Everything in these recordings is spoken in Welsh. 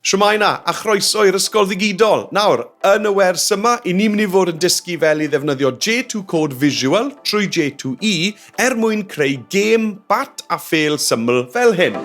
Shwmae 'na, a chroeso i'r Ysgol Ddigidol! Nawr, yn y wers yma, 'y ni'n mynd i fod yn dysgu fel i ddefnyddio J2 Code Visual trwy J2E er mwyn creu gêm bat a phêl syml fel hyn.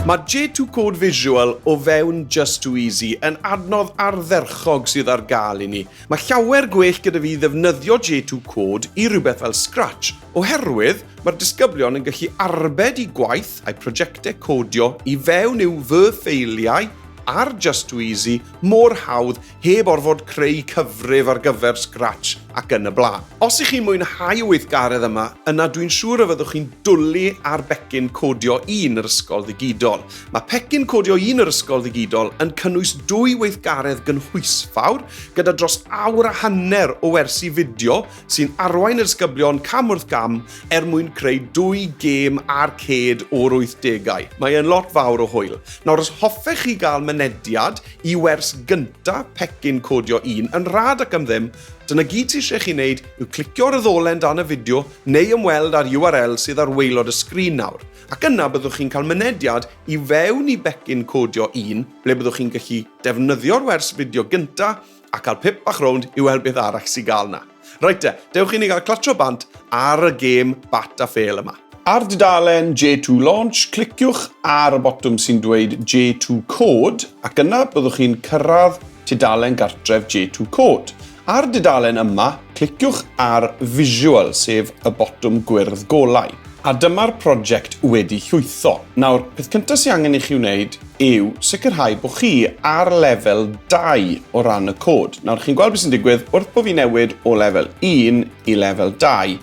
Mae J2 Code Visual o fewn Just Too Easy yn adnodd ardderchog cog sydd ar gael i ni. Mae llawer gwell gyda fi ddefnyddio J2 Code i rywbeth fel Scratch, oherwydd mae'r disgyblion yn gallu arbed i gwaith a'u prosiectau codio i fewn i'w fy ffeiliau ar Just Too Easy mor hawdd heb orfod creu cyfrif ar gyfer Scratch ac yn y blaen. Os ych chi'n mwynhau y weithgaredd yma, yna dwi'n siŵr y fyddwch chi'n dwlu ar becyn codio un yr ysgol ddigidol. Mae pecyn codio un yr ysgol ddigidol yn cynnwys dwy weithgaredd gynhwysfawr gyda dros awr a hanner o wersi fideo sy'n arwain y disgyblion cam wrth gam er mwyn creu dwy gêm arcêd o'r 80au. Mae e'n lot fawr o hwyl. Nawr os hoffech chi gael mynediad i wers gynta pecyn codio un yn rhad ac am ddim, dyna gyd sydd eisiau chi wneud yw clicio ar y ddolen dan y fideo neu ymweld â'r URL sydd ar waelod y sgrin nawr. Ac yna byddwch chi'n cael mynediad i fewn i becyn codio un ble byddwch chi'n gallu defnyddio'r wers fideo gynta a cael pip bach rownd i weld beth arall sy'n gael yna. Reit te, dewch i ni gael clatro bant ar y gêm bat a phêl yma. Ar dudalen J2 Launch, cliciwch ar y botwm sy'n dweud J2 Code ac yna byddwch chi'n cyrraedd tudalen gartref J2 Code. Ar y dudalen yma, cliciwch ar Visual, sef y botwm gwyrdd golau. A dyma'r prosiect wedi llwytho. Nawr, peth cyntaf sy'n angen i chi wneud yw sicrhau bod chi ar lefel 2 o ran y cod. Nawr, chi'n gweld beth sy'n digwydd wrth bod fi'n newid o lefel 1 i lefel 2,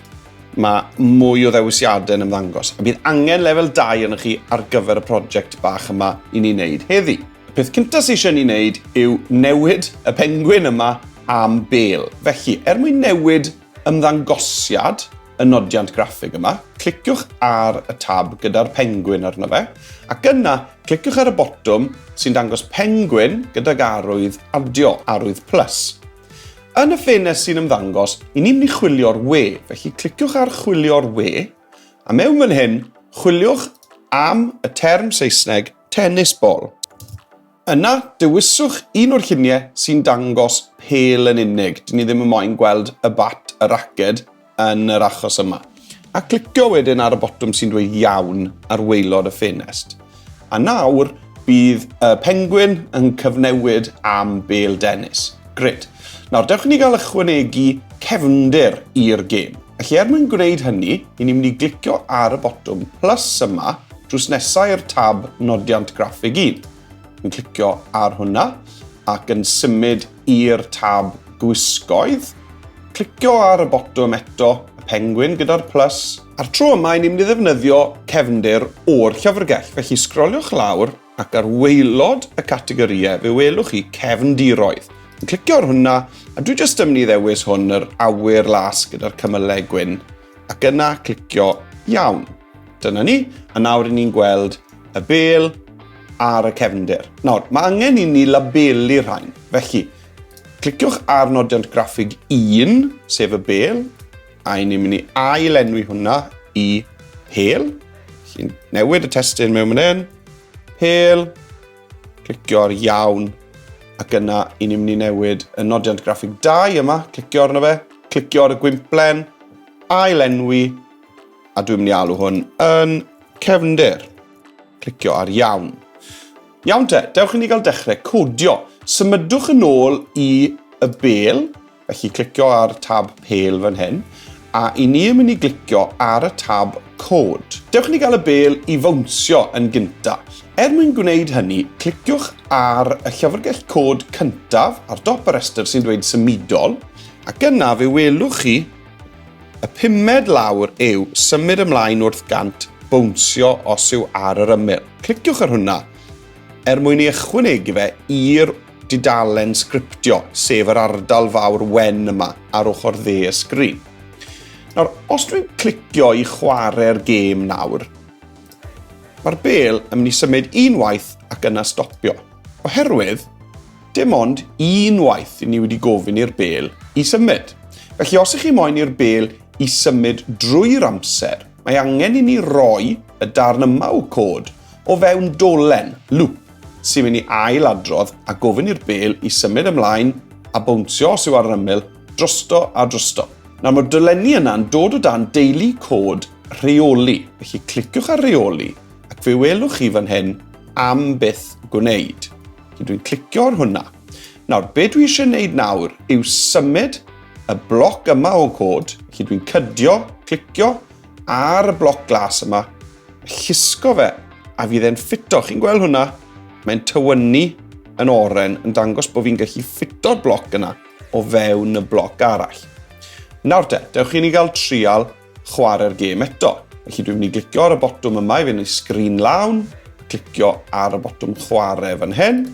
mae mwy o ddewisiadau yn ymddangos. A bydd angen lefel 2 arnoch chi ar gyfer y prosiect bach yma i ni wneud heddi. Y peth cyntaf sy'n eisiau ni wneud yw newid y pengwyn yma am bel. Felly, er mwyn newid ymddangosiad y nodiant graffig yma, cliciwch ar y tab gyda'r pengwyn arno fe, ac yna cliciwch ar y botwm sy'n dangos pengwyn gydag arwydd adio, arwydd plus. Yn y ffenest sy'n ymddangos, i ni'n mynd i chwilio'r we, felly cliciwch ar chwilio'r we, a mewn fan hyn, chwiliwch am y term Saesneg Tennis bol. Yna, dewiswch un o'r lluniau sy'n dangos pel yn unig. Dyn ni ddim yn moyn gweld y bat, y raced, yn yr achos yma. A clicio wedyn ar y botwm sy'n dweud iawn ar waelod y ffenest. A nawr, bydd y pengwyn yn cyfnewid am bel dennis. Gred. Nawr, dewch i ni gael ychwanegu cefndir i'r gêm. Felly er mwyn gwneud hynny, i ni'n mynd i glicio ar y botwm plus yma drws nesaf i'r tab Nodiant Graffig 1. Yn clicio ar hwnna ac yn symud i'r tab Gwisgoedd. Clicio ar y botwm eto, y pengwyn gyda'r plus. A'r tro yma, i ni'n mynd i ddefnyddio cefndir o'r llyfrgell. Felly sgroliwch lawr ac ar waelod y categorïau fe welwch chi cefndiroedd. Yn clicio ar hwnna, a dwi jyst yn mynd i ddewis hwn yr awyr las gyda'r cymylau gwyn, ac yna clicio iawn. Dyna ni, a nawr i ni'n gweld y bel ar y cefndir. Nawr, mae angen i ni labelu rhain, felly Cliciwch ar nodiant graffig 1, sef y bel, A ni'n mynd i ail-enwi hwnna i hel. Felly newid y testyn mewn mynd yn. Hel. Clicio'r iawn. Ac yna, i ni'n mynd i newid y nodiant graffig 2 yma. Clicio arno fe. Clicio ar y gwimplen. Ail-enwi. A dwi'n mynd i alw hwn yn cefndir. Clicio ar iawn. Iawn te, dewch i ni gael dechrau codio. Symudwch yn ôl i y bel Felly clicio ar tab Pale fan hyn, a i ni yn mynd i glicio ar y tab Cod. Dewch ni gael y bel i fawnsio yn gynta. Er mwyn gwneud hynny, cliciwch ar y llyfrgell cod cyntaf ar dop y rhestr sy'n dweud Symudol, ac yna fe welwch chi y pumed lawr yw Symud ymlaen wrth gant bownsio os yw ar yr ymyl. Cliciwch ar hwnna er mwyn ei ychwanegu fe i'r dudalen sgriptio, sef yr ardal fawr wen yma ar ochr dde y sgrin. Nawr, os dwi'n clicio i chwarae'r gêm nawr, mae'r bel yn mynd i symud unwaith ac yna stopio. Oherwydd, dim ond unwaith i ni wedi gofyn i'r bel i symud. Felly, os ych chi moyn i'r bel i symud drwy'r amser, mae angen i ni roi y darn yma o cod o fewn dolen, loop, sy'n mynd i ail adrodd a gofyn i'r bêl i symud ymlaen a bownsio os yw ar yr ymyl, drosto a drosto. Nawr mae'r dolenni yna'n dod o dan deulu cod rheoli, felly cliciwch ar reoli ac fe welwch chi fan hyn am byth gwneud. Felly dwi'n clicio ar hwnna. Nawr, be dwi eisiau gwneud nawr yw symud y bloc yma o cod, felly dwi'n cydio, clicio ar y bloc glas yma Llusgo fe, a fydd e'n ffito. Chi'n gweld hwnna? Mae'n tywynnu yn oren yn dangos bod fi'n gallu ffito'r bloc yna o fewn y bloc arall. Nawr te, dewch i ni gael trial chwarae'r gêm eto. Felly dwi'n mynd i glicio ar y botwm yma i fynd i sgrin lawn, clicio ar y botwm chwarae fan hyn,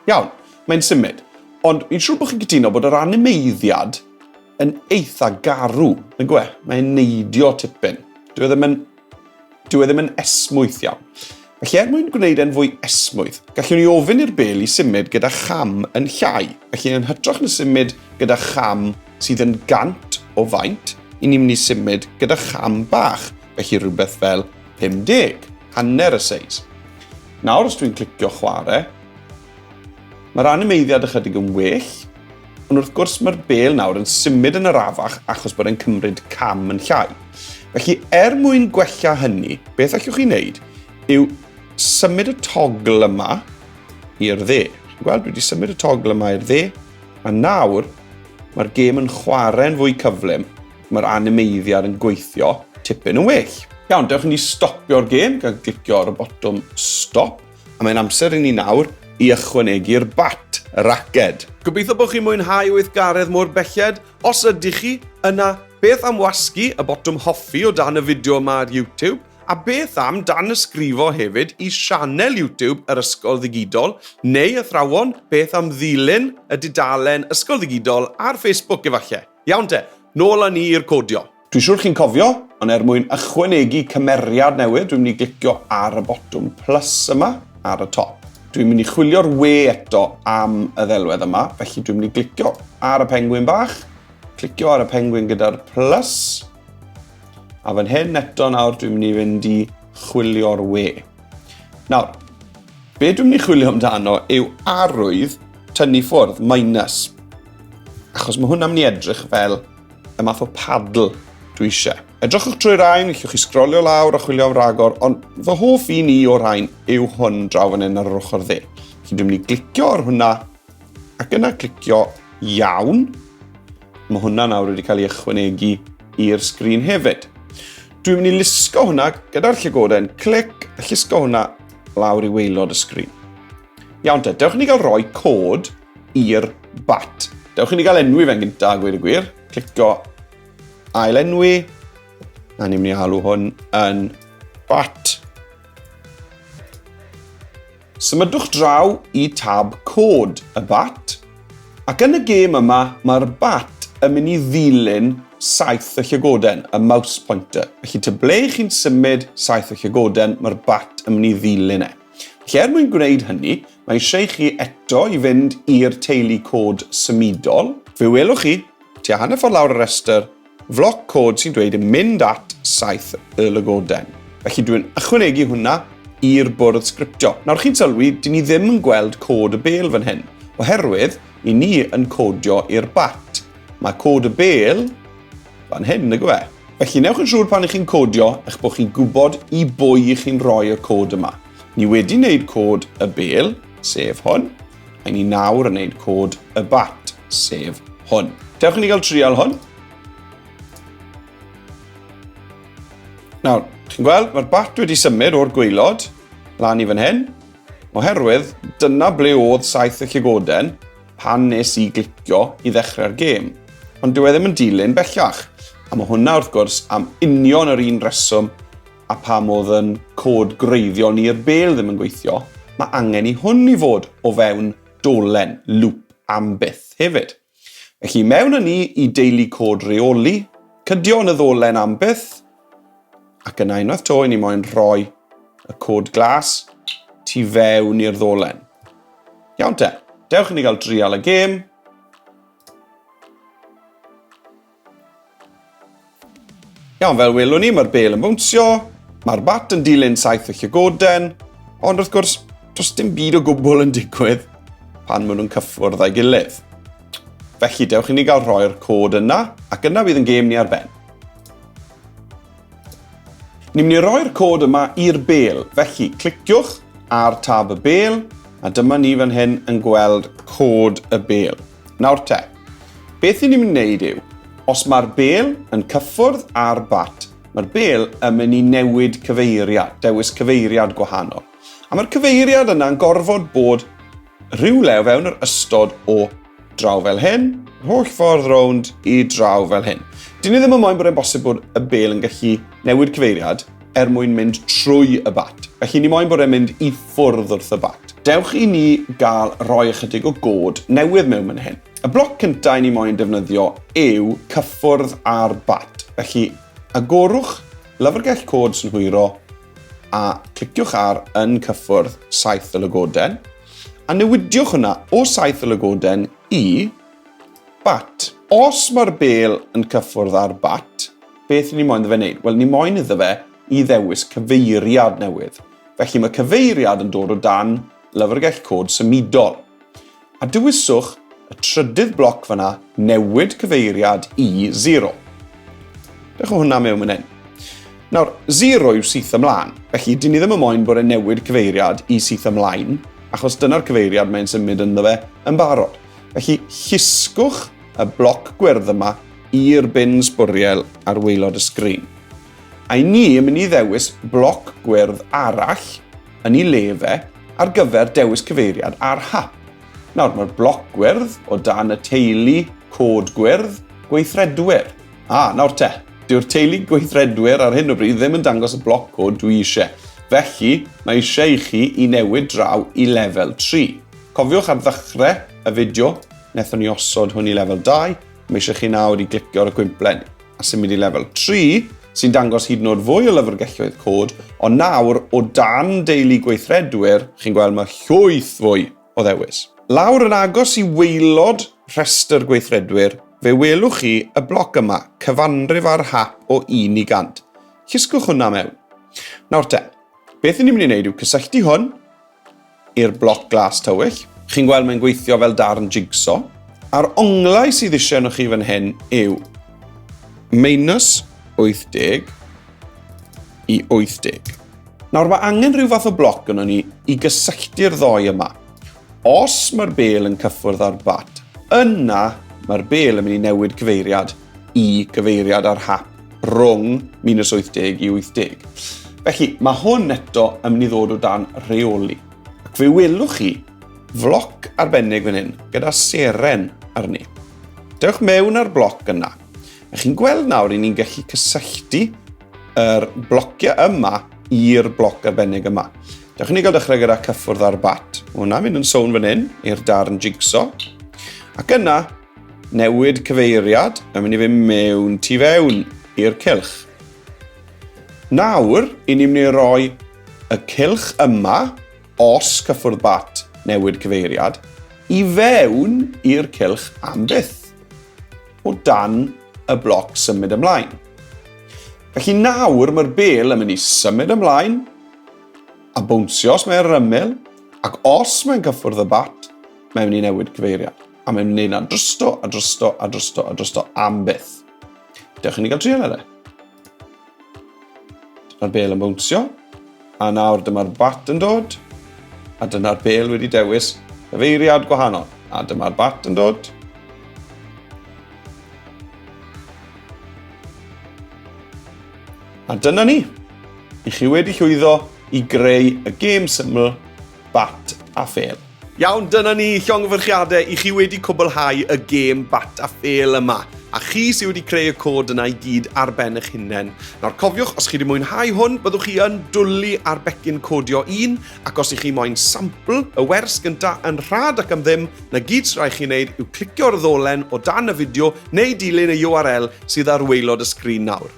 Iawn, mae'n symud. Ond fi'n siŵr bod chi'n cytuno bod yr animeiddiad yn eitha garw, yn gwe? Mae'n neidio tipyn. Dwi e ddim yn... Dwi e ddim yn esmwyth iawn. Felly er mwyn gwneud e'n fwy esmwyth, gallwn ni ofyn i'r bel i symud gyda cham yn llai. Felly yn hytrach na symud gyda cham sydd yn gant o faint, i ni'n mynd i symud gyda cham bach, felly rhywbeth fel 50, hanner y seis. Nawr os dwi'n clicio chwarae, mae'r animeiddiad ychydig yn well, ond wrth gwrs mae'r bel nawr yn symud yn arafach achos bod e'n cymryd cam yn llai. Felly er mwyn gwella hynny, beth allwch chi wneud yw symud y togl yma i'r dde. Chi'n gweld, dwi wedi symud y togl yma i'r dde, a nawr mae'r gêm yn chwarae'n fwy cyflym. Mae'r animeiddiad yn gweithio tipyn yn well. Iawn, dewch i ni stopio'r gêm gan glicio ar y botwm stop, a mae'n amser i ni nawr i ychwanegu'r bat, y raced. Gobeithio bod chi'n mwynhau weithgaredd mor belled. Os ydych chi, yna beth am wasgu y botwm hoffi o dan y fideo yma ar YouTube? A beth am danysgrifo hefyd i sianel YouTube yr Ysgol Ddigidol, neu athrawon, beth am ddilyn y dudalen Ysgol Ddigidol ar Facebook efallai? Iawn te, nôl â ni i'r codio. Dwi'n siŵr chi'n cofio, ond er mwyn ychwanegu cymeriad newydd, dwi'n mynd i glicio ar y botwm plus yma ar y top. Dwi'n mynd i chwilio'r we eto am y ddelwedd yma, felly dwi'n mynd i glicio ar y pengwyn bach, clicio ar y pengwyn gyda'r plus, a fan hyn eto nawr dwi'n mynd i fynd i chwilio'r we. Nawr, be dwi'n mynd i chwilio amdano yw arwydd tynnu ffwrdd, minus. Achos mae hwn am ni edrych fel y math o paddle dwi eisiau. Edrychwch trwy rhain, llwch chi sgrolio lawr a chwilio am ragor, ond fy hoff un i o rhain yw hwn draw fan hyn ar yr ochr dde. Felly dwi'n mynd i glicio ar hwnna, ac yna clicio iawn. Mae hwnna nawr wedi cael ei ychwanegu i'r sgrin hefyd. Dwi'n mynd i lusgo hwnna gyda'r llygoden, clic, a llusgo hwnna lawr i weilod y sgrin. Iawn te, dewch i ni gael rhoi cod i'r bat. Dewch i ni gael enwi fe'n gyntaf, a gweud y gwir. Clico ail enwi, a ni'n mynd i alw hwn yn bat. Symudwch draw i tab cod y bat, ac yn y gêm yma mae'r bat yn mynd i ddilyn saith y llygoden, y mouse pointer. Felly te ble chi'n symud saith y llygoden, mae'r bat yn mynd i ddilyn e. Felly er mwyn gwneud hynny, mae eisiau chi eto i fynd i'r teulu cod symudol. Fe welwch chi, tua hanner ffordd lawr y rhestr, floc cod sy'n dweud mynd at saith y lygoden. Felly dwi'n ychwanegu hwnna i'r bwrdd sgriptio. Nawr chi'n sylwi, dyn ni ddim yn gweld cod y bel fan hyn, oherwydd i ni yn codio i'r bat. Mae cod y bel fan hyn, nag yw e? Felly, newch yn siŵr pan ych chi'n codio eich bod chi'n gwybod i bwy i chi'n rhoi y cod yma. Ni wedi wneud cod y bel, sef hwn, a ni nawr yn wneud cod y bat, sef hwn. Dewch i ni gael trial hwn. Nawr, chi'n gweld, mae'r bat wedi symud o'r gweilod lan i fan hyn, oherwydd dyna ble oedd saith y llygoden, pan nes i glicio i ddechrau'r gêm, ond dyw e ddim yn dilyn bellach. A mae hwnna wrth gwrs am union yr un reswm a pam oedd yn cod gwreiddiol ni'r bel ddim yn gweithio, mae angen i hwn i fod o fewn dolen, lŵp, am byth hefyd. Felly mewn â ni i deulu cod reoli, cydio yn y ddolen am byth, Ac yna unwaith to, i ni moyn rhoi y cod glas tu fewn i'r ddolen. Iawn te, dewch i ni gael drial y gêm. Iawn, fel welwn ni, mae'r bel yn bwnsio, mae'r bat yn dilyn saith y llygoden, ond wrth gwrs, does dim byd o gwbl yn digwydd pan maen nhw'n cyffwrdd â'i gilydd. Felly, dewch i ni gael rhoi'r cod yna, ac yna bydd yn gêm ni ar ben. Ni'n mynd i roi'r cod yma i'r bel, felly cliciwch ar tab y bel, a dyma ni fan hyn yn gweld cod y bel. Nawr te, beth i ni'n mynd i wneud yw, os mae'r bel yn cyffwrdd ar bat, mae'r bel yn mynd i newid cyfeiriad, dewis cyfeiriad gwahanol. A mae'r cyfeiriad yna'n gorfod bod Rhywle o fewn yr ystod o draw fel hyn, yr holl ffordd rownd i draw fel hyn. Dyn ni ddim yn moyn bod e'n bosib bod y bel yn gallu newid cyfeiriad er mwyn mynd trwy y bat. Felly ni moyn bod e'n mynd i ffwrdd wrth y bat. Dewch i ni gael rhoi ychydig o god newydd mewn man hyn. Y bloc cyntaf i ni moyn defnyddio yw cyffwrdd ar bat. Felly, agorwch lyfrgell cod sy'n hwyro A cliciwch ar yn cyffwrdd saith y lygoden, a newidiwch hwnna o saith y lygoden i bat. Os mae'r bel yn cyffwrdd â'r bat, beth ni moyn iddo fe wneud? Wel, ni moyn iddo fe i ddewis cyfeiriad newydd. Felly mae cyfeiriad yn dod o dan lyfrgell cod symudol. A dewiswch y trydydd bloc fanna, newid cyfeiriad i 0. Dewch o hwnna mewn yn hyn. Nawr, 0 yw syth ymlaen, felly dyn ni ddim yn moyn bod e'n newid cyfeiriad i syth ymlaen, achos dyna'r cyfeiriad mae'n symud ynddo fe yn barod. Felly, llusgwch y bloc gwyrdd yma i'r bin sbwriel ar waelod y sgrin. I ni yn mynd i ddewis bloc gwyrdd arall yn i le fe ar gyfer dewis cyfeiriad ar hap. Nawr, mae'r bloc gwyrdd o dan y teulu cod gwyrdd gweithredwyr. A, nawr te, dyw'r teulu gweithredwyr ar hyn o bryd ddim yn dangos y bloc cod dwi eisiau. Felly, mae eisiau i chi i newid draw i lefel 3. Cofiwch ar ddechrau y fideo, wnaethon ni osod hwn i lefel 2, mae eisiau chi nawr i glicio ar y cwymplen. a symud i lefel 3, sy'n dangos hyd yn oed fwy o lyfrgelloedd cod, ond nawr, o dan deulu gweithredwyr, chi'n gweld mae llwyth fwy o ddewis. Lawr yn agos i waelod rhestr gweithredwyr, fe welwch chi y bloc yma, cyfanrif ar hap o 1 i 100. Llusgwch hwnna mewn. Nawr te, beth ni'n mynd i wneud yw cysylltu hwn i'r bloc glas tywyll. Chi'n gweld mae'n gweithio fel darn jigso. A'r onglau sydd eisiau yno chi fan hyn yw minus 80 i 80. Nawr mae angen rhyw fath o bloc yno ni i gysylltu'r ddoi yma. Os mae'r bel yn cyffwrdd â'r bat, yna mae'r bel yn mynd i newid cyfeiriad. i gyfeiriad ar hap rhwng 1980 i 80. Felly, mae hwn eto yn mynd i ddod o dan reoli. Ac fe welwch chi floc arbennig fan hyn gyda seren arni. Dewch mewn ar bloc yna. A chi'n gweld nawr i ni'n gallu cysylltu yr blociau yma i'r bloc arbennig yma. Dewch ni gael dechrau gyda cyffwrdd ar bat. Mae hwnna'n mynd yn sôn fan hyn i'r darn jigsaw. Ac yna, Newid cyfeiriad yn mynd i fynd mewn tu fewn i'r cylch. Nawr, i ni'n mynd i roi y cylch yma, os cyffwrdd bat newid cyfeiriad, i fewn i'r cylch am byth, o dan y bloc symud ymlaen. Felly nawr mae'r bel yn mynd i symud ymlaen a bwnsio os mae'n rymel, ac os mae'n cyffwrdd y bat, mae'n mynd i newid cyfeiriad. A mae'n mynd na drosto, a drosto, a drosto, a drosto am byth. Dewch i ni gael trial ar e. Dyna'r bel yn bwnsio. A nawr dyma'r bat yn dod. A dyna'r bel wedi dewis cyfeiriad gwahanol. A dyma'r bat yn dod. A dyna ni. I chi wedi llwyddo i greu y gêm syml Bat a Phêl. Iawn, dyna ni, llongyfarchiadau i chi wedi cwblhau y gêm Bat a Phêl yma, a chi sydd wedi creu y cod yna i gyd ar ben eich hunain. Nawr cofiwch, os chi wedi mwynhau hwn, byddwch chi yn dwlu ar becyn codio un, ac os i chi moyn sampl y wers gynta yn rhad ac am ddim, na gyd sy'n rhaid chi wneud yw clicio'r ddolen o dan y fideo neu dilyn y URL sydd ar waelod y sgrin nawr.